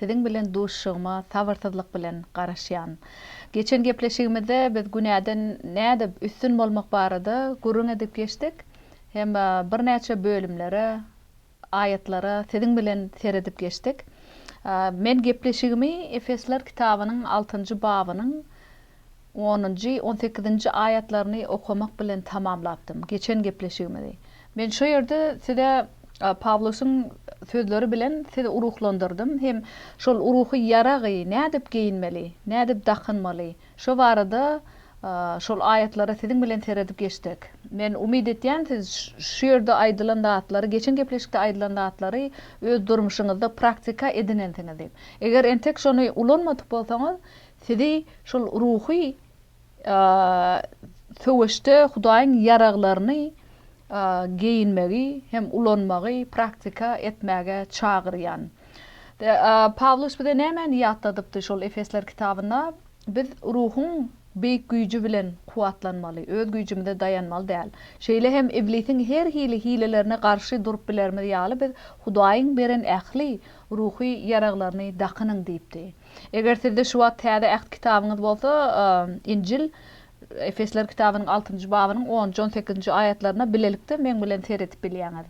Siziň bilen duşuşygyma sabyrsyzlyk bilen garaşýan. Geçen gepleşigimizde biz günäden nädip üstün bolmak barada gürrüň edip geçdik hem birnäçe bölümlere, aýatlara siziň bilen seredip geçdik. Men gepleşigimi Efesler kitabynyň altynjy babynyň Onunjy, on sekizinji aýatlaryny okamak bilen tamamlapdym geçen gepleşigimizi. Men şu ýerde size Pawlusyň sözleri bilen sizi ruhlandyrdym hem şol ruhy ýaragy nädip geýinmeli, nädip dakynmaly, şo barada şol aýatlara siziň bilen seredip geçdik. Men umyt etýän siz şu ýerde aýdylan zatlary, geçen gepleşikde aýdylan zatlary öz durmuşyňyzda praktika edinensiňiz diýip. Eger entek şony ulanmadyk bolsaňyz, Sizi şol ruhy söweşde Hudaýyň ýaraglaryny geýinmegi hem ulanmagy praktika etmäge çagyrýan. Pawlus bize nämäni ýatladypdy şol Efesler kitabynda? Biz Ruhuň beýik güýji bilen kuwwatlanmaly, öz güýjümize daýanmaly däl. Şeýle hem iblisiň her hili hilelerine garşy durup bilerimiz ýaly biz Hudaýyň beren ähli ruhy ýaraglaryny dakynyň diýipdi. Eger sizde şu wagt Täze Äht kitabyňyz bolsa, Injil, Efesler kitabynyň altynjy babynyň onunjy, on sekizinji aýatlaryna bilelikde meň bilen seredip bilýäňiz.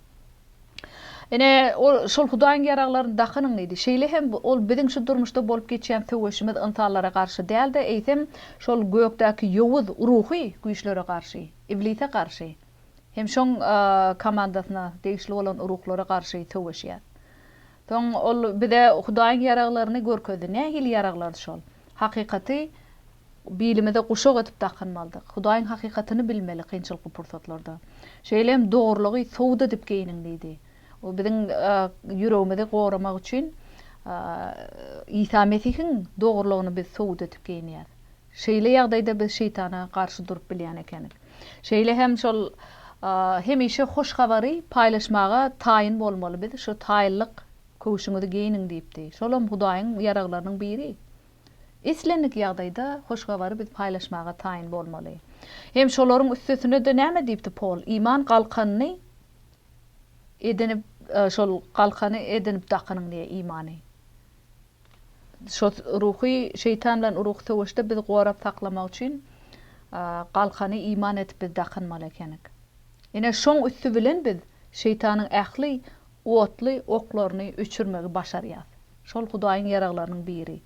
Ine, ol şol Hudaýyň ýaraglaryny dakynyň diýdi. Şeýle hem ol biziň şu durmuşda bolup geçýän söweşimiz ynsanlara garşy däl-de, eýsem, şol gökdäki ýowuz ruhy güýçlere garşy, iblise garşy hem şoň komandasyna degişli bolan ruhlara garşy söweşýär. Soň Ol bize Hudaýyň ýaraglaryny görkezdi. Nähili ýaraglar şol? Hakykaty bilimize guşak edip dakynmalydyk. Hudaýyň hakykatyny bilmeli kynçylykly pursatlarda. Şeýle hem dogrulygy sowut edip geýniň diýdi. Bu biziň ýüregimizi goramak üçin Isa Mesihiň dogrulygyny biz sowut edip geýinýäs. Şeýle ýagdaýda biz şeýtana garşy durup bilýän ekenik. Şeýle hem şol hemişe hoş habary paýlaşmaga taýyn bolmaly biz, şu taýynlyk köwşüňizi geýniň diýipdi. Şolam Hudaýyň ýaraglarynyň biri. Islendik ýagdaýda hoş habary biz paýlaşmaga taýyn bolmaly. Hem şolaryň üstesine-de näme diýipdi Pol, iman galkanyny edinip, şol galkany edinip dakynyň diýe, imany. Şo ruhy şeýtan bilen urugy söweşde biz gorap saklamak üçin galkany iman edip biz dakynmaly ekenik. Ine şoň üsti bilen biz şeýtanyň ähli otly oklaryny öçürmegi başarýas. Şol Hudaýyň ýaraglarynyň biri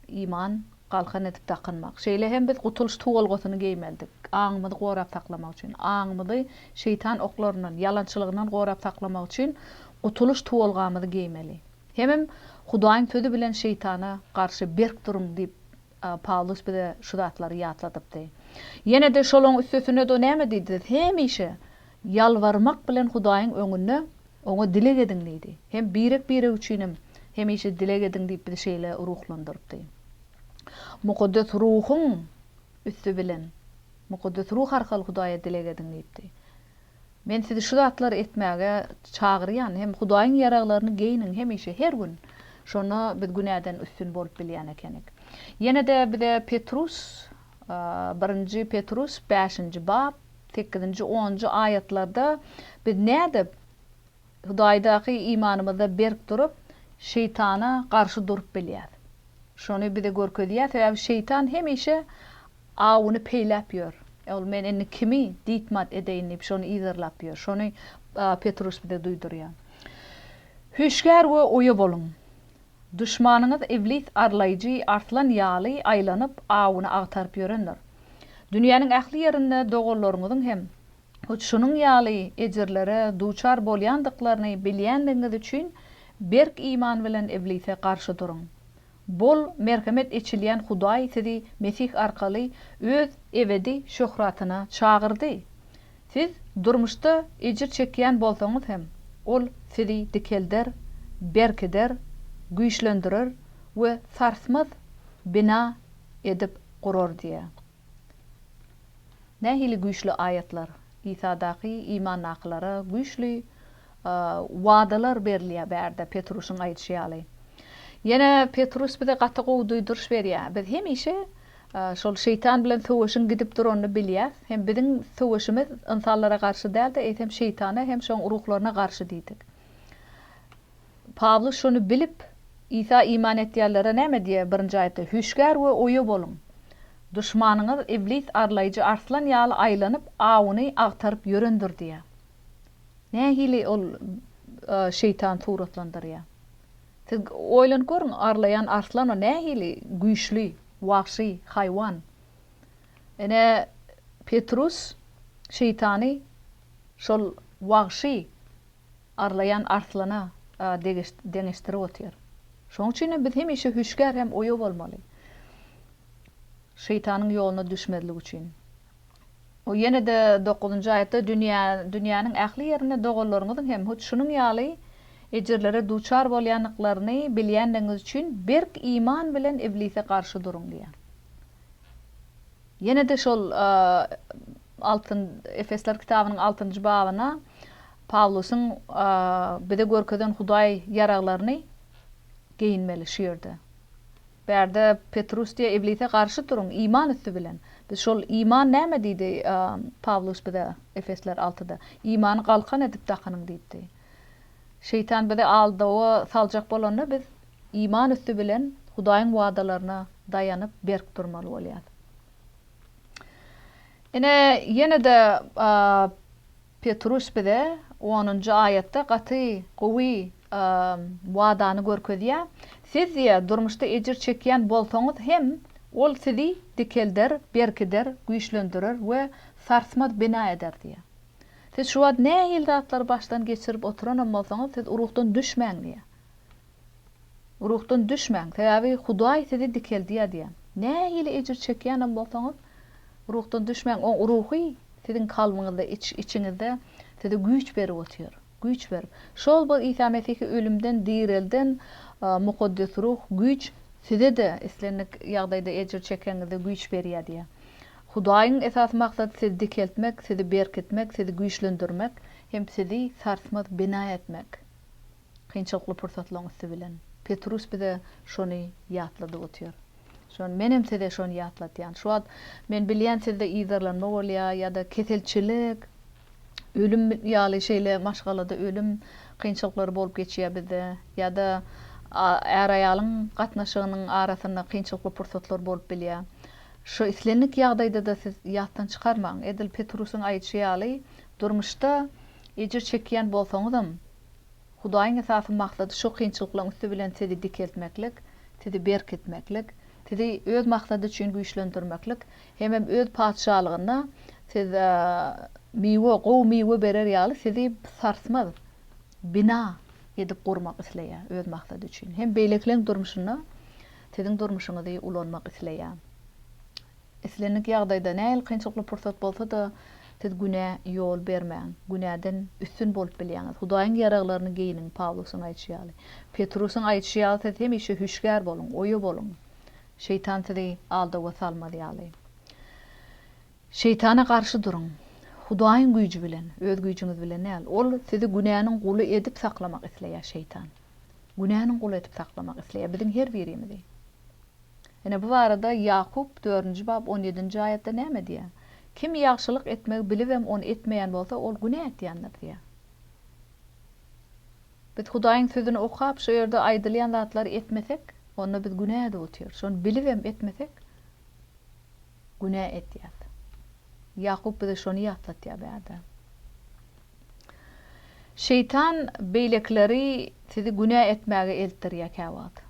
iman galkan edip dakynmak. Şeýle hem biz gutulyş tuwalgasyny geýmelidik. Aňymyzy gorap saklamak üçin. Aňymyzy şeýtan oklaryndan, ýalançylygyndan gorap saklamak üçin gutulyş tuwalgamyzy geýmeli. Hemem Hudaýyň Sözi bilen Şeýtana garşy berk duruň diýip, Pawlus bize şu zatlary ýatladypdy. Ýene-de şolaň üstesine-de näme diýdi? Hemişe ýalbarmak bilen Hudaýyň öňünde Oňa dileg ediň diýdi. Hem birek-birek üçinem hemişe dileg ediň diýip bizi şeýle ruhlandyrypdy. Mukaddes Ruhuň üsti bilen, Mukaddes Ruh arkaly Hudaýa dileg ediň diýipdi. Men sizi şu zatlary etmäge çagyrýan, hem Hudaýyň ýaraglaryny geýniň hemişe, her gün. Şonda biz günäden üstün bolup bilýän ekenik. Ýene-de bize Petrus, Birinji Petrus bäşinji bap, sekizinji, onunjy aýatlarda biz nädip, Hudaýdaky imanymyzda berk durup, Şeýtana garşy durup bilýäs. Şony bize görkezýär, sebäbi Şeýtan hemişe awuny peýläp ýör. Ol men indi kimi diýtmat edeýin diýip, şony yzarlap ýör. Şony Petrus bize duýdurýar. Hüşgär we oýa boluň! Duşmanyňyz Iblis arlaýjy arslan ýaly aýlanyp, awuny agtaryp ýörendir. Dünýäniň ähli ýerinde doganlaryňyzyň hem hut şunuň ýaly ejirlere duçar bolýandyklaryny bilýändigiňiz üçin berk iman bilen iblise garşy duruň. Bol merhemet eçilýän Hudaý sizi Mesih arkaly Öz ebedi şöhratyna çagyrdy. Siz durmuşda ejir çekýän bolsaňyz hem, Ol sizi dikelder, berkider, güýçlendirer we sarsmaz bina edip gurar diýýär. Nähili güýçli aýatlar! Isadaky imandakylara güýçli wadalar berilýär bärde Petrusyn aýdyşy ýaly. Ýene Petrus bize gaty gowy duýduryş berýär. Biz hemişe şol şeýtan bilen söweşiň gidip duranyny bilýäs. Hem biziň söweşimiz ynsanlara garşy däl-de, eýsem şeýtana hem şoň ruhlaryna garşy diýdik. Pawlus şony bilip, Isa iman etýänlere näme diýýär? Birinji aýatda, Hüşgär we oýa boluň! Duşmanyňyz Iblis arlaýjy arslan ýaly aýlanyp, awuny agtaryp ýörendir diýýär. Nähili ol Şeýtan suratlandyrýar? Siz oýlanyp görüň, arlaýan arslan o nähili güýçli, wagşy haýwan. Ine, Petrus Şeýtany şol wagşy, arlaýan arslana deňeşdirip otyr. Şonuň üçinem biz hemişe hüşgär hem oýa bolmaly. Şeýtanyň ýoluna düşmezlik üçin. O ýene-de dokuzynjy aýatda dünýä, dünýäniň ähli ýerinde doganlaryňyzyň hem hut şunuň ýaly ejirlere duçar bolýandyklaryny bilýändigiňiz üçin berk iman bilen iblise garşy duruň diýýär. Ýene-de şol Altyn Efesler kitabynyň altynjy babyna Pawlusyň bize görkezen Hudaý ýaraglaryny geýinmeli şu ýerde. Bärde Petrus diýýär, Iblise garşy turuň, iman üsti bilen. Biz şol iman näme diýdi Pawlus bize Efesler altyda? Imany galkan edip dakynyň diýipdi. Şeýtan bizi aldawa saljak bolanda biz iman üsti bilen Hudaýyň wadalaryna daýanyp berk durmaly bolýarys. Ine, ýene-de Petruş bize onunjy aýatda gaty gowy wadany görkezýär, Siz, diýýär, durmuşda ejir çekýän bolsaňyz hem, Ol sizi dikelder, berkider, güýçlendirer we sarsmaz bina eder diýýär. Siz şu wagt nähili zatlary başdan geçirip oturanam bolsaňyz, siz ruhdan düşmäň diýýär. Ruhdan düşmäň, sebäbi Hudaý sizi dikeldýär diýýär. Nähili ejir çekýänem bolsaňyz, ruhdan düşmäň. Oň Ruhy siziň kalbyňyzda, iç-içiňizde size güýç berip otyr. Güýç berip. Şol bir Isa Mesihi ölümden direlden Mukaddes Ruh güýç size-de islendik ýagdaýda ejir çekeňizde güýç berýär diýýär. Hudaýyň esasy maksady sizi dikeltmek, sizi berkitmek, sizi güýçlendirmek hem sizi sarsmaz bina etmek. kynçylykly pursatlaryň üsti bilen. Petrus bize şony ýatladyp otyr. Şony menem size şony ýatlatýan. Şu wagt men bilýän sizde yzarlanma bolýa ýa-da keselçilik, ölüm ýaly şeýle maşgalada ölüm kynçylyklary bolup geçýä bizde ýa-da äraýalyň gatnaşygynyň arasynda kynçylykly pursatlar bolup bilýä. Şu islendik ýagdaýdada siz ýatdan çykarmaň. Edil Petrusyň aýdyşy ýaly durmuşda ejir çekýän bolsaňyzam, Hudaýyň esasy maksady şu kynçylyklaryň üsti bilen sizi dikeltmeklik, sizi berkitmeklik, sizi Öz maksady üçin güýçlendirmeklik hemem Öz Patyşalygynda siz miwe, gowy miwe berer ýaly sizi sarsmaz bina edip gurmak isleýär Öz maksady üçin hem beýlekileriň durmuşynda siziň durmuşyňyzy ulanmak isleýär. Islendik ýagdaýda, nähili kynçylykly pursat bolsa-da, siz günä ýol bermäň. Günäden üstün bolup bilýäňiz. Hudaýyň ýaraglaryny geýiniň, Pawlusyň aýdyşy ýaly. Petrusyň aýdyşy ýaly siz hemişe hüşgär boluň, oýa boluň. Şeýtan sizi aldawa salmaz ýaly. Şeýtana garşy duruň. Hudaýyň güýji bilen, öz güýjüňiz bilen däl. Ol sizi günäniň guly edip saklamak isleýär, şeýtan. Günäniň guly edip saklamak isleýär biziň her birimizi. Ine, bu barada Ýakup dördünji bap on ýedinji aýatda näme diýýär? Kim ýagşylyk etmegi bilibem, ony etmeýän bolsa, ol günä etýändir diýýär. Biz Hudaýyň Sözüni okap, şo ýerde aýdylýan zatlary etmesek, onda biz günä edip otyr. Şony bilibem etmesek, Günä etýäs. Ýakup bize şony ýatlatýar bärde. Şeýtan beýlekileri sizi günä etmäge eltdirýär käwagt.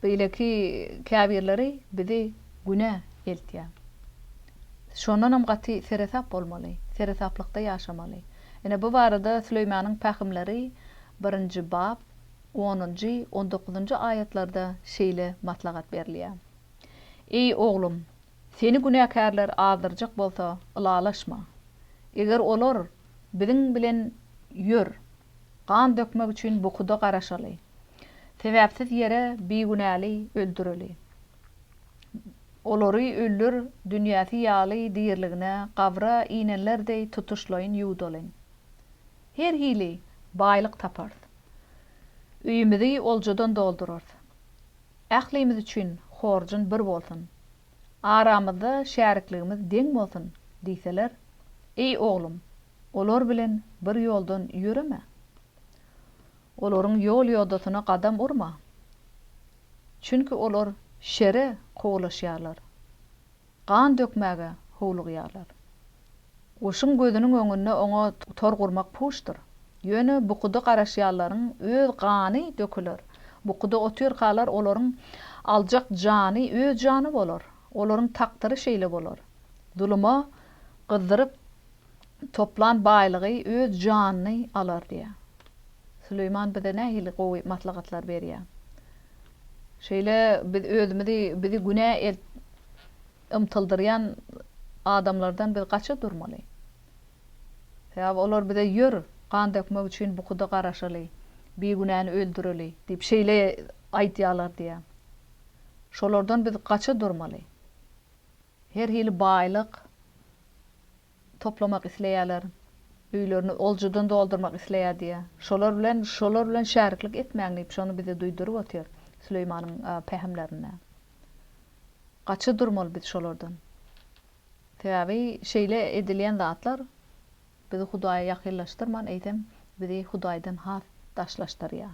Beýleki käbirleri bizi günä eltýär. Şondanam gaty seresap bolmaly, seresaplykda ýaşamaly. Ine bu barada Süleýmanyň pähimleri birinji bap Onunjy, on dokuzynjy aýatlarda şeýle maslahat berilýär, Eý, oglum, seni günäkärler azdyrjak bolsa, ylalaşma. Eger olar, Biziň bilen ýör, gan dökmek üçin bukuda garaşaly. Sebäpsiz ýere bigünäli öldüreli. Olary öller dünýäsi ýaly diriligine gabra inenler deý tutuşlaýyn ýuwdalyň. Her hili baýlyk taparys. Öýümizi oljadan doldurarys. Ählimiz üçin horjun bir bolsun. Aramyzda şärikligimiz deň bolsun diýseler, Eý, oglum, olar bilen bir ýoldan ýöreme. Olaryň ýol-ýodasyna gadam urma. Çünki olar şere kowulaşýarlar. Gan dökmäge howlugýarlar. Goşuň gözüniň öňünde oňa tor gurmak puşdyr. Ýöne bukuda garaşýanlaryň öz gany döküler. Bukuda otyrkalar olaryň aljak jany öz jany bolar. Olaryň takdyry şeýle bolar. Zuluma gyzdyryp Toplan baýlygy öz janyny alar diýýär. Süleýman bize nähili gowy maslahatlar berýär. Şeýle biz özümizi bizi günä el ymtyldyrýan adamlardan biz gaça durmaly. Sebäbi olar bize ýör, gan dökmek üçin bukuda garaşaly, bigünäni öldüreli diýip şeýle aýdýarlar diýýär. Şolardan biz gaça durmaly. Her hili baýlyk toplamak isleýärler, öýlerini oljudan doldurmak isleýär diýýär. Şolar bilen, şolar bilen şäriklik etmäň diýip, şony bize duýduryp otyr Süleýmanyň pähimlerinde. Gaça durmaly biz şolardan. Sebäbi şeýle edilýän zatlar bizi Hudaýa ýakynlaşdyrman, eýsem, bizi Hudaýdan has daşlaşdyrýar.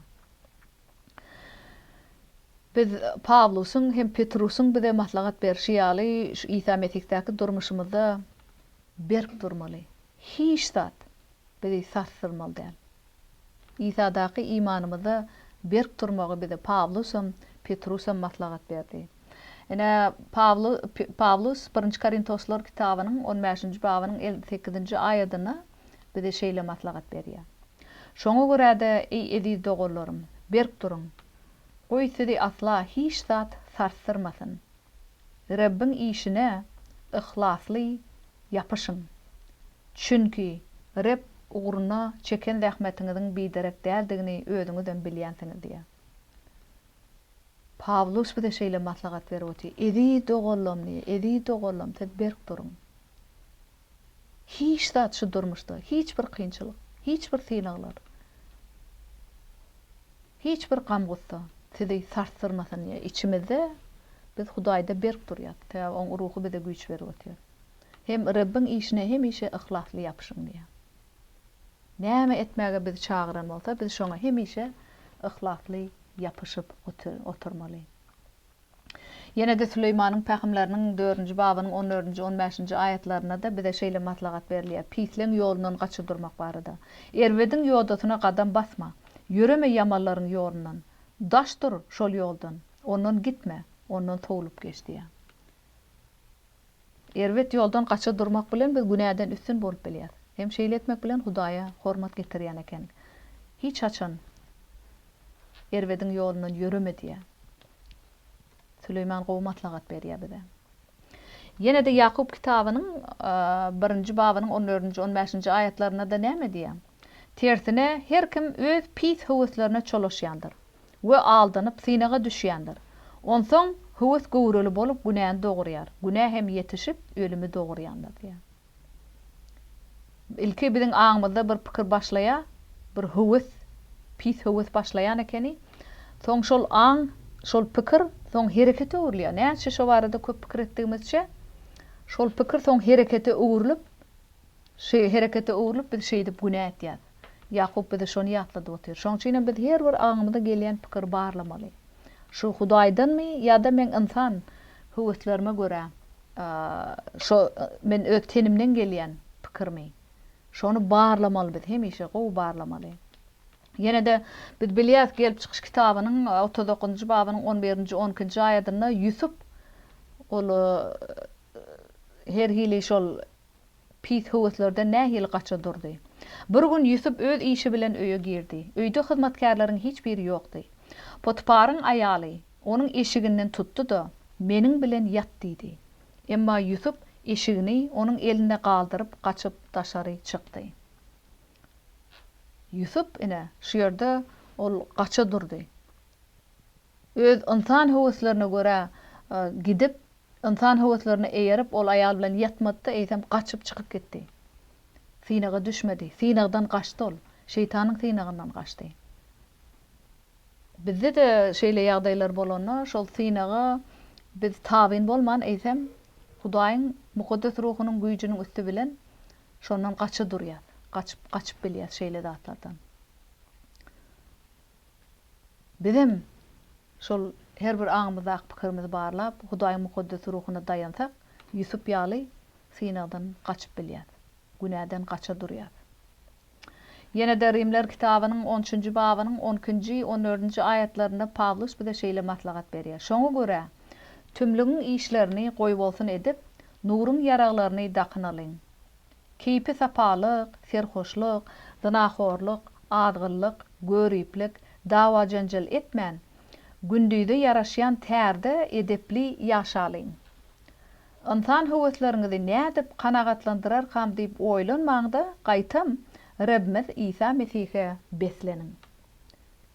Biz Pawlusyň hem Petrusyň bize maslahat berşi ýaly, şu Isa Mesihdaky durmuşymyzda berk durmaly. Hiç zat bizi sarsdyrmaly däl. Isadaky imanymyzda berk durmagy bize Pawlus hem, Petrus hem maslahat berdi. Ine, Pawlus Birinji Korintoslar kitabynyň on bäşinji babynyň elli sekizinji aýadynda bize şeýle maslahat berýär, Şoňa görä-de, eý, eziz doganlarym, berk duruň. Goý, sizi asla hiç zat sarsdyrmasyn. Rebbiň işine yhlasly ýapyşyň. Çünki Reb ugruna çeken zähmetiňiziň biderek däldigini özüňizem bilýänsiňiz diýýär. Pawlus bize şeýle maslahat berip otyr, Eziz doganlam diýýär, eziz doganlam, siz berk duruň. Hiç zat şu durmuşda, hiç bir kynçylyk, hiç bir synaglar, hiç bir gam-gussa sizi sarsdyrmasyn diýýär. Içimizde biz Hudaýda berk durýas, sebäbi Oň Ruhy bize güýç berip otyr. Hem Rebbiň işine hemişe yhlasly ýapyşyň diýýär. Näme etmäge bizi çagyran bolsa, biz şoňa hemişe yhlasly ýapyşyp oturmaly. Ýene-de Süleýmanyň pähimleriniň dördünji babynyň on dördünji, on bäşinji aýatlarynda-da bize şeýle maslahat berilýär, Pisleň ýolundan gaça durmak barada. Erbediň ýodasyna gadam basma. Ýöreme ýamanlaryň ýolundan. Daş dur şol ýoldan. Ondan gitme. Ondan sowlup geç diýýär. Erbet ýoldan gaça durmak bilen biz günäden üstün bolup bilýäris. Hem şeýle etmek bilen Hudaýa hormat getirýän ekeniň. Hiç haçan erbediň ýolundan ýöreme diýýär. Süleýman gowy maslahat berýär bize. Ýene-de Ýakup kitabynyň birinji babynyň on dördünji, on bäşinji aýatlarynda-da näme diýýär? Tersine, her kim öz pis höweslerine çolaşýandyr we aldanyp, synaga düşýändir. Onsoň höwes göwreli bolup, günäni dogurýar, günä hem ýetişip, ölümi dogurýandyr diýýär. Ilki biziň aňymyzda bir pikir başlaýar, bir höwes, pis höwes başlaýan ekeni. Soň şol aň, şol pikir soň herekete öwrülýär. Näçe şo barada köp pikir etdigimizçe, şol pikir soň herekete öwrülip, Şu herekete öwrülip biz şeýdip günä etýäs. Ýakup bize şony ýatladyp otyr. Şoň üçin hem biz her bir aňymyza gelýän pikiri barlamaly. Şu Hudaýdanmy ýa-da meň ynsan höweslerime görä şo men öz tenimden gelýän pikirmi? Şony barlamaly biz, hemişe gowy barlamaly. Ýene-de biz bilýäs Gelip çykyş kitabynyň otuz dokuzynjy babynyň on birinji, on ikinji aýadynda Ýusup ol her hili şol Pis höweslerden nähili gaça durdy. Bir gün Ýusup öz işi bilen öýe girdi. Öýde hyzmatkärleriň hiç biri ýokdy. Potyparyň aýaly onuň eşiginden tutdy-da, Meniň bilen ýat diýdi. Emma Ýusup eşigini onuň elinde galdyryp, gaçyp daşary çykdy. Ýusup, ine, şu ýerde ol gaça durdy. Öz ynsan höweslerine görä gidip, ynsan höweslerine eýerip, ol aýal bilen ýatmady-da, eýsem, gaçyp çykyp gitdi. Synaga düşmedi. Synagdan gaçdy ol. Şeýtanyň synagyndan gaçdy. Bizde-de şeýle ýagdaýlar bolanda, şol synaga biz tabyn bolman, eýsem, Hudaýyň mukaddes ruhunyň güýjüniň üsti bilen şondan gaça durýas. Gaçyp, gaçyp bilýäs şeýle zatlardan. Bizem şol her bir aňymyzdaky pikirimizi barlap, Hudaýyň mukaddes ruhuna daýansak, Ýusup ýaly synagdan gaçyp bilýäs, günäden gaça durýas. Ýene-de Rimler kitabynyň on üçünji babynyň on ikinji, on dördünji aýatlarynda Pawlus bize şeýle maslahat berýär, Şoňa görä, tümlügiň işlerini goýbolsun edip, nuruň ýaraglaryny dakynalyň. Keýpi-sapalyk, serhoşlyk, zynahorlyk, azgynlyk, göriplik, dawa-janjal etmän, gündize ýaraşýan tärde edepli ýaşalyň. Ynsan höwesleriňizi nädip kanagatlandyrarkam diýip oýlanmaň-da, gaýtam, Rebimiz Isa Mesihe besleniň.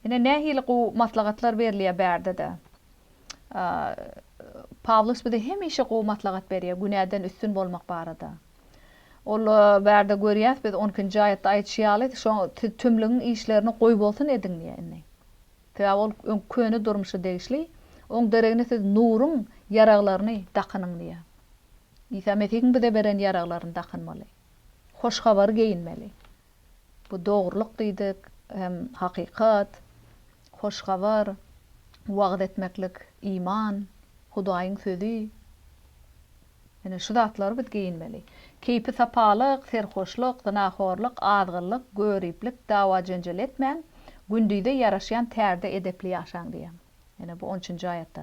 Ine nähili gowy maslahatlar berilýär bärde-de. Pawlus bize hemişe gowy maslahat berýär günäden üstün bolmak barada. Ol bärde görýäs biz on ikinji aýatda aýdyşy ýaly, şoň siz tümlügiň işlerini goý bolsun ediň diýýär indi. Sebäbi ol öň köne durmuşa degişli, oň deregine siz nuruň ýaraglaryny dakynyň diýýär. Isa Mesihiň bize beren ýaraglaryny dakynmaly. Hoş habary geýinmeli. Bu dogrulyk diýdik, hem hakykat, hoş habar, wagyz etmeklik, iman, Hudaýyň sözi. Ine, şu zatlary biz geýinmeli. Keýpi-sapalyk, serhoşlyk, zynahorlyk, azgynlyk, göriplik, dawa-jenjel etmäň, gündize ýaraşýan tärde edepli ýaşaň diýýän. Ýene bu on üçünji aýatda.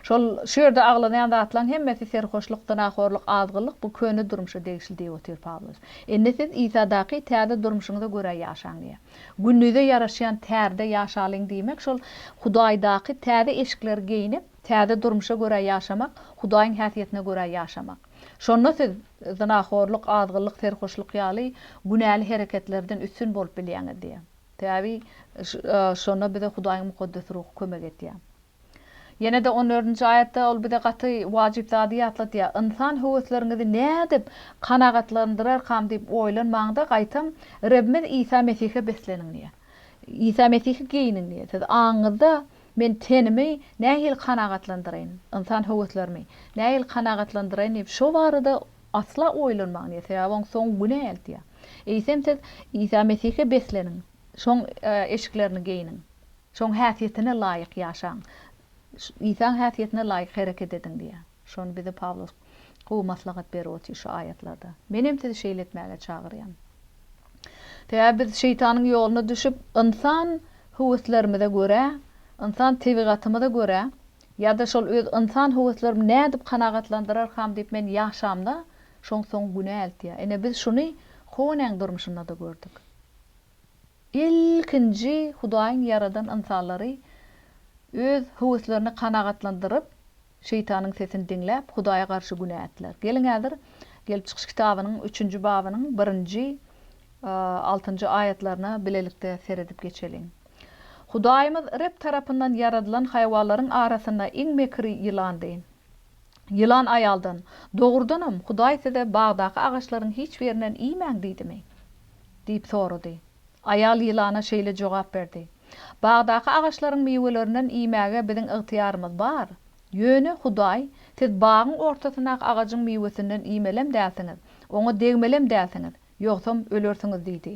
Şol, şu ýerde aglanýan zatlaryň hemmesi serhoşlyk, zynahorlyk, azgynlyk, bu köne durmuşa degişli diýip otyr Pawlus. Indi siz Isadaky täze durmuşyňyza görä ýaşaň diýýär. Gündize ýaraşýan tärde ýaşalyň diýmek şol Hudaýdaky täze eşikleri geýnip, täze durmuşa görä ýaşamak, Hudaýyň häsiýetine görä ýaşamak. Şonda siz zynahorlyk, azgynlyk, serhoşlyk ýaly günäli hereketlerden üstün bolup bilýäňiz diýýär. Täbi, şonda bize Hudaýyň Mukaddes Ruhy kömek edýär. Ýene-de on dördünji aýatda Ol bize gaty wajyp zady ýatladýar, Ynsan höwesleriňizi nädip kanagatlandyrarkam diýip oýlanmaň-da, gaýtam, Rebimiz Isa Mesihe besleniň diýýär. Isa Mesihi geýiniň diýýär. Siz aňyňyzda, Men tenimi nähili kanagatlandyraýyn, ynsan höweslerimi nähili kanagatlandyraýyn diýip, şo barada Asla oýlanmaň diýýär, sebäbi oň soňy günä eltýär. Eýsem siz Isa Mesihe besleniň, şoň eşiklerini geýniň, şoň häsiýetine laýyk ýaşaň, Isaň häsiýetine laýyk hereket ediň diýýär. Şony bize Pawlus gowy maslahat berip otyr şu aýatlarda. Menem sizi şeýle etmäge çagyrýan. Sebäbi biz şeýtanyň ýoluna düşüp, ynsan höweslerimize görä, ynsan tebigatymyza görä, Ýa-da şol öz ynsan höweslerimi nädip kanagatlandyrarkam diýip men ýaşamda şoň soň günä eltýär. Ine biz şuny Honäň durmuşynda-da gördük. Ilkinji Hudaýyň ýaradan ynsanlary öz höweslerini kanagatlandyryp, şeýtanyň sesini diňläp, Hudaýa garşy günä etdiler. Geliň häzir Gelip çykyş kitabynyň üçünji babynyň birinji, altynjy aýatlaryna bilelikde seredip geçeliň. Hudaýymyz Reb tarapyndan ýaradylan haýwanlaryň arasynda iň mekiri ýylandy. Ýylan aýaldan, Dogrudanam, Hudaý size, Bagdaky agaçlaryň hiç birinden iýmäň diýdimi? diýip sorady. Aýal ýylana şeýle jogap berdi, Bagdaky agaçlaryň miwelerinden iýmäge biziň ygtyýarymyz bar. Ýöne Hudaý, Siz bagyň ortasyndaky agajyň miwesinden iýmelem dälsiňiz, oňa degmelem dälsiňiz. Ýogsam ölersiňiz diýdi.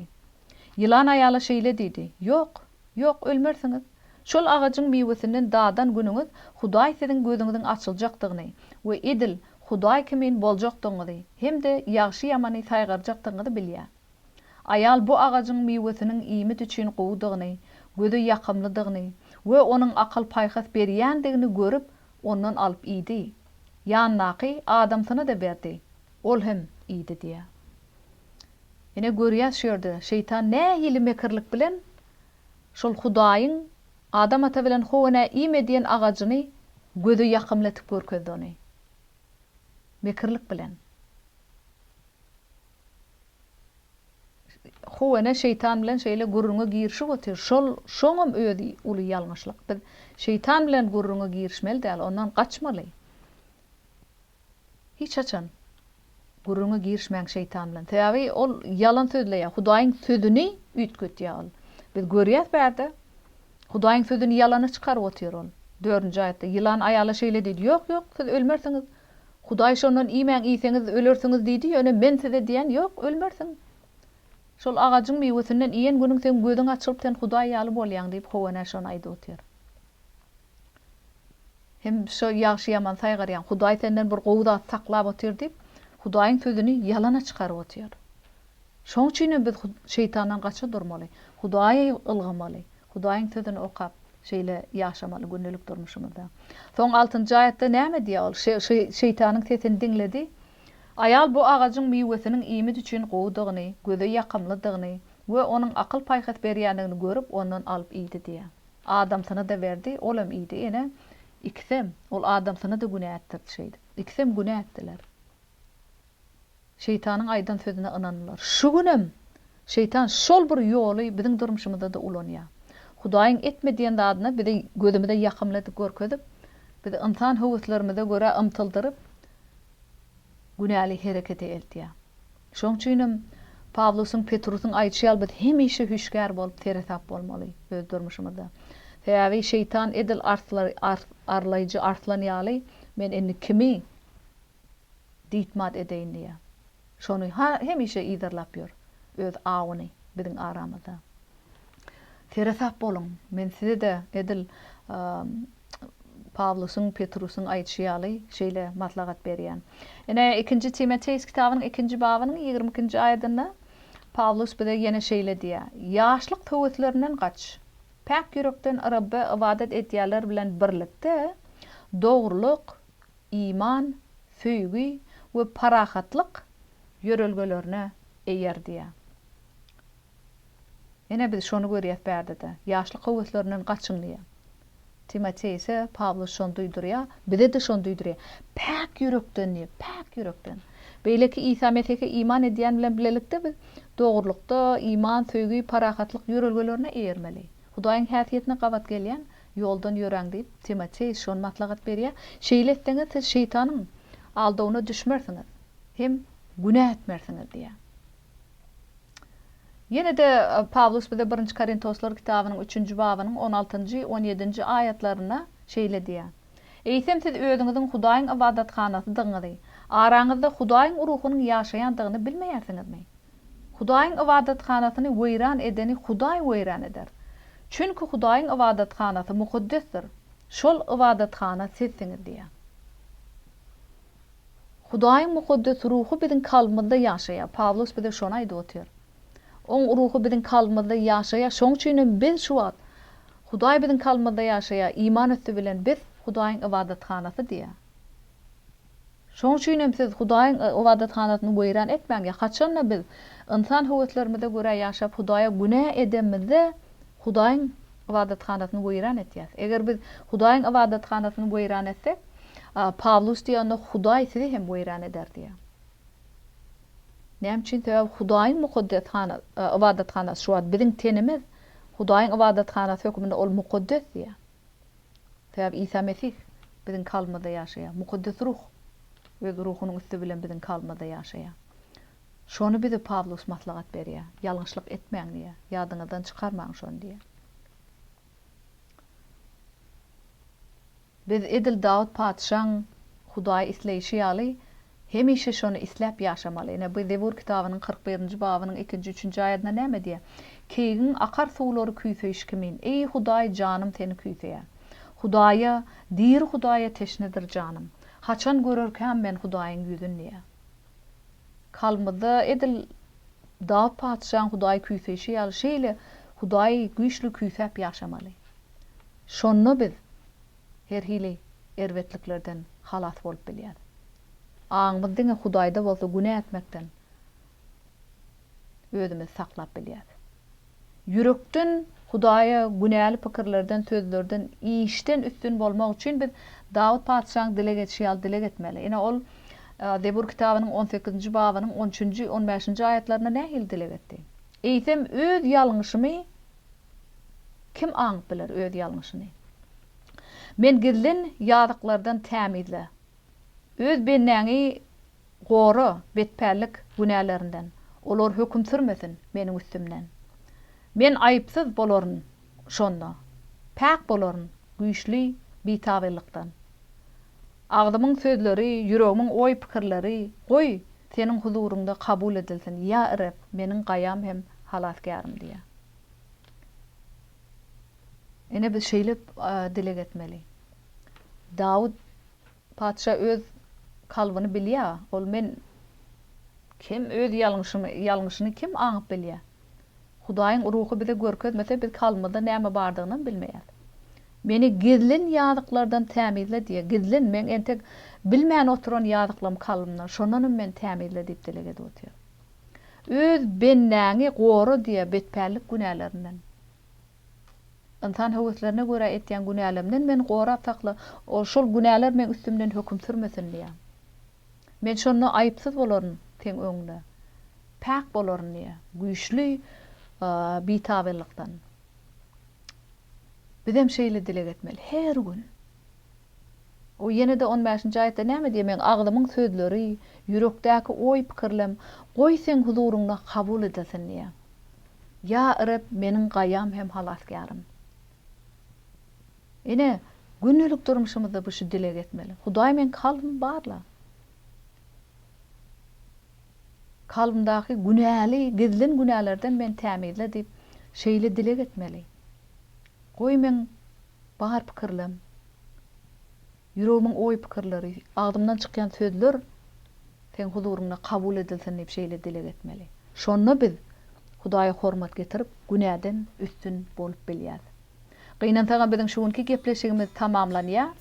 Ýylan aýala şeýle diýdi, Ýok, ýok, ölmersiňiz. Şol agajyň miwesinden dadan günüňiz Hudaý siziň gözüňiziň açyljakdygyny we edil Hudaý kimin boljakdygyňyzy hem-de ýagşy-ýamany saýgarjakdygyňyzy bilýär. Aýal bu agajyň miwesiniň iýmit üçin gowudygyny, göze ýakymlydygyny we onuň akyl-paýhas berýändigini görüp, ondan alyp iýdi. Ýanyndaky adamsyna-da berdi. Ol hem iýdi diýýär. Ine, görýäs şu ýerde şeýtan nähili mekirlik bilen şol Hudaýyň Adam ata bilen Howa nä iýme diýen agajyny göze ýakymly etip görkezdi ony. Mekirlik bilen. Howa nä şeýtan bilen şeýle gürrüňe girişip otyr. Şol, şoňam özi uly ýalňyşlyk. Biz şeýtan bilen gürrüňe girişmeli däl, ondan gaçmaly. Hiç haçan gürrüňe girişmäň şeýtan bilen. Sebäbi ol ýalan sözleýär. Hudaýyň sözüni üýtgetýär ol. Biz görýäs bärde. Hudaýyň sözüni ýalana çykaryp otyr ol. Dördünji aýatda ýylan aýala şeýle diýdi, Ýok, ýok, siz ölmersiňiz. Hudaý şondan iýmäň, iýseňiz ölersiňiz diýdi, ýöne men size diýýän, Ýok, ölmersiň. Şol agajyň miwesinden iýen günüň seň gözüň açylyp, sen Hudaý ýaly bolýaň diýip, Howa ene şony aýdyp otyr. Hem şo ýagşy-ýaman saýgarýan Hudaý senden bir gowy zat saklap otyr diýip, Hudaýyň sözüni ýalana çykaryp otyr. Şoň üçin hem biz Şeýtandan gaça durmaly, Hudaýa ylgamaly, Hudaýyň sözüni okap, şeýle ýaşamaly gündelik durmuşymyzda. Soň altynjy aýatda näme diýýär? Ol Şeýtanyň sesini diňledi. Aýal bu agajyň miwesiniň iýmit üçin gowudygyny, göze ýakymlydygyny we onuň akyl-paýhas berýändigini görüp, ondan alyp iýdi diýýär. Adamsyny-da berdi, olam iýdi. Ene, ikisem, ol adamsyny-da günä etdirdi şeýdip. Ikisem günä etdiler. Şeýtanyň aýdan sözüne ynandylar. Şu günem Şeýtan şol bir ýoly biziň durmuşymyzda-da ulanýar. Hudaýyň etme diýen zadyny biziň gözümize ýakymly edip görkezip, bizi ynsan höweslerimize görä ymtyldyryp, günäli herekete eltýär. Şoň üçinem, Pawlusyň, Petrusyň aýdyşy ýaly biz hemişe hüşgär bolup, seresap bolmaly öz durmuşymyzda. Sebäbi Şeýtan edil arlaýjy arslan ýaly, Men indi kimi diýtmat edeýin diýýär. Şony hemişe yzarlap ýör, öz awyny biziň aramyzda. Seresap boluň, men size-de edil Pawlusyň, Petrusyň aýdyşy ýaly, şeýle maslahat berýär. Ine, ikinji Timoteus kitabynyň ikinji babynyň ýigrimi ikinji aýadynda Pawlus bize ýene şeýle diýýär, Ýaşlyk höweslerinden gaç. Päk ýürekden Rebbe ybadat edýänler bilen birlikde, dogrulyk, iman, söýgi we parahatlyk ýörelgelerine eýer diýýär. Ine, biz şony görýäs bärde-de. Ýaşlyk höweslerinden gaçyň diýýär. Timoteý ise Pawlus şony duýdurýar, bize-de şony duýdurýar. Päk ýürekden diýip, päk ýürekden. Beýleki Isa Mesihe iman edýän bilen bilelikde biz dogrulykda, iman, söýgi, parahatlyk ýörelgelerine eýermeli. Hudaýyň häsiýetine gabat gelýän ýoldan ýöräň diýip, Timoteý şony maslahat berýär. Şeýle etseňiz, siz Şeýtanyň aldawyna düşmersiňiz hem günä etmersiňiz diýýär. Ýene-de Pawlus bize Birinji Korintoslar kitabynyň üçünji babynyň on altynjy, on ýedinji aýatlarynda şeýle diýýär, Eýsem siz özüňiziň Hudaýyň ybadathanasydygyňyzy, araňyzda Hudaýyň Ruhunyň ýaşaýandygyny bilmeýärsiňizmi? Hudaýyň ybadathanasyny weýran edeni Hudaý weýran eder. Çünki Hudaýyň ybadathanasy mukaddesdir, şol ybadathana sizsiňiz diýýär. Hudaýyň mukaddes ruhy biziň kalbymyzda ýaşaýar. Pawlus bize şony aýdyp otyr. Oň ruhy biziň kalbymyzda ýaşaýar. Şoň üçin hem biz şu wagt, Hudaý biziň kalbymyzda ýaşaýar, iman üsti bilen biz Hudaýyň ybadathanasy diýýär. Şoň üçin hem siz Hudaýyň ybadathanasyny weýran etmäň. Haçan-da biz ynsan höweslerimize görä ýaşap, Hudaýa günä edemizde, Hudaýyň ybadathanasyny weýran etýäs. Eger biz Hudaýyň ybadathanasyny weýran etsek, Pawlus diýýär, onda Hudaý sizi hem weýran eder diýýär. Näme üçin? Sebäbi Hudaýyň mukaddes ybadathana, şu wagt biziň tenimiz Hudaýyň ybadathanasy hökmünde ol mukaddes diýýär. Sebäbi Isa Mesih biziň kalbymyzda ýaşaýar. Mukaddes Ruh öz Ruhunyň üsti bilen biziň kalbymyzda ýaşaýar. Şony bize Pawlus maslahat berýär, Ýalňyşlyk etmäň diýýär. Ýadyňyzdan çykarmaň şony diýýär. Biz edil Dawut patyşaň Hudaýy isleýşi ýaly, hemişe şony isläp ýaşamaly. Ine, bu Zebur kitabynyň kyrk birinji babynyň ikinji, üçünji aýadynda näme diýýär? Keýigiň akar suwlary küýseýşi kimin, eý, Hudaý, janym seni küýseýär. Hudaýa, diri Hudaýa teşnedir janym. Haçan görerkäm men Hudaýyň ýüzün diýýär. Kalbymyzda edil Dawut patyşaň Hudaýy küýseýşi ýaly şeýle Hudaýy güýçli küýsäp ýaşamaly. Şonda biz her hili erbetliklerden halas bolup bilýäs. Aňymyz diňe Hudaýda bolsa günä etmekden özümizi saklap bilýäs. Ýürekden Hudaýa günäli pikirlerden, sözlerden, işden üstün bolmak üçin biz Dawut patyşaň dileg edişi ýaly dileg etmeli. Ine, ol Zebur kitabynyň on sekizinji babynyň on üçünji, on bäşinji aýatlarynda nähili dileg etdi? Eýsem, öz ýalňyşymy kim aňyp biler, öz ýalňyşyny? Men gizlin ýazyklardan tämizle. Öz bendäňi Gora, betpällik, günälerinden. Olar höküm sürmesin meniň üstümden. Men aýypsyz bolaryn şonda. Päk bolaryn güýçli bitaglylykdan. Agzymyň sözleri, ýüregimiň oý-pikirleri, goý, Seniň huzuryňda kabul edilsin, ýa Reb, meniň Gaýam hem Halasgärym diýýär. Ine, biz şeýle dileg etmeli. Dawut. Patyşa öz kalbyny bilýä, ol men kim öz ýalňyşymy ýalňyşyny kim aňyp bilýä? Hudaýyň ruhy bize görkezmese biz kalbymyzda näme bardygynam bilmeýäs. Meni gizlin ýazyklardan tämizle diýýä, gizlin meň entek bilmän oturan ýazyklym kalbymda şondanam meni tämizle diýip dileg edip otyr. Öz bendäňi gora diýýä betpällik günälerinden. Ynsan höweslerine görä etýän günälemden meni gorap sakla, ol şol günäler meň üstümden höküm sürmesin diýýär. Men şonda aýypsyz bolaryn Seň öňüňde, päk bolaryn diýýär. Güýçli bitabyllykdan. Bizem şeýle dileg etmeli her gün. O ýene-de on bäşinji aýatda näme diýýär, Meň agzymyň sözleri, ýürekdäki oý-pikirlem goý Seň huzuryňda kabul edilsin diýýär. Ýa Reb, meniň Gaýam hem Halasgärym! Ine, gündelik durmuşymyzda biz şu dilegi etmeli, Hudaý meň kalbymy barla. Kalbymdaky günäli, gizlin günälerden meni tämizle diýip, şeýle dileg etmeli. Goý meň bar pikirlem, ýüregimiň oý-pikirleri, agzymdan çykýan sözler Seň huzuryňda kabul edilsin diýip şeýle dileg etmeli. Şonda biz Hudaýa hormat getirip, günäden üstün bolup bilýäs. Gynansagam biziň şu günki gepleşigimiz tamamlanýar.